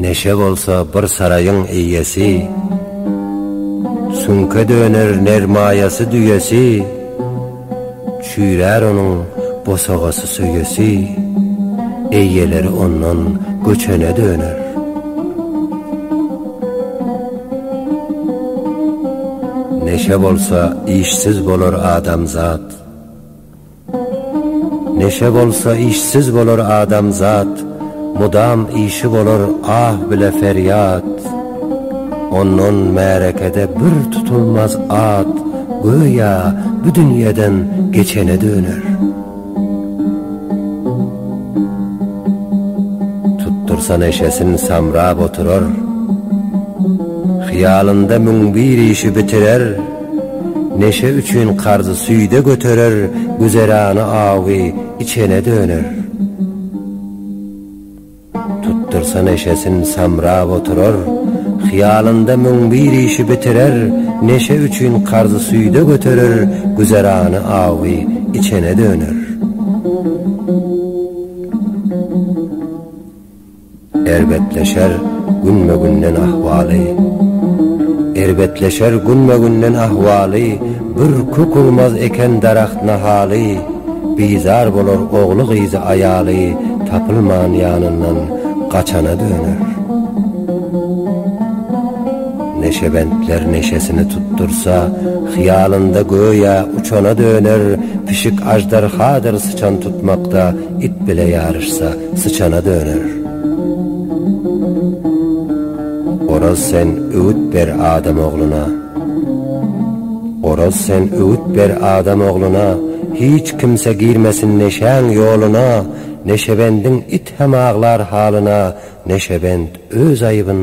Neşe bolsa bir saraýyň eýesi, Süňke döner nermaýasy düýesi, Çüýrär onuň bosagasy söýesi, Eýeleri ondan göçene döner. Neşe bolsa işsiz bolar adamzat, Neşe bolsa işsiz bolar adamzat, Mudam işi bolar ah bile ferýat. Ondan märekede bir tutulmaz at, Göýä bu dünýeden geçene döner. Tutdursa neşesin samrap oturar, Hyýalynda müň bir işi bitirer. Neşe üçin karzy süýde göterer, güzerany awy içene döner. Tutdursa neşesin samrap oturar, hyýalynda müň bir işi bitirer, neşe üçin karzy süýde göterer, güzerany awy içene döner. Erbetleşer günbe-günden ahwaly. Erbetleşer günbe-günden ahwaly, Bir kök urmaz eken daragt nahaly, Bizar bolar ogly-gyzy aýaly, Tapylman ýanyndan gaçana döner. Neşebentler neşesini tutdursa, Hyýalynda göýä uçana döner, Pişik aždarhadyr syçan tutmakda, It bile ýaryşsa, syçana döner. Oraz sen öwüt ber adam ogluna. Oraz sen öwüt ber adam ogluna, Hiç kimse girmesin neşäň ýoluna, Neşebendiň it hem aglar halyna, Neşebend öz aýybyn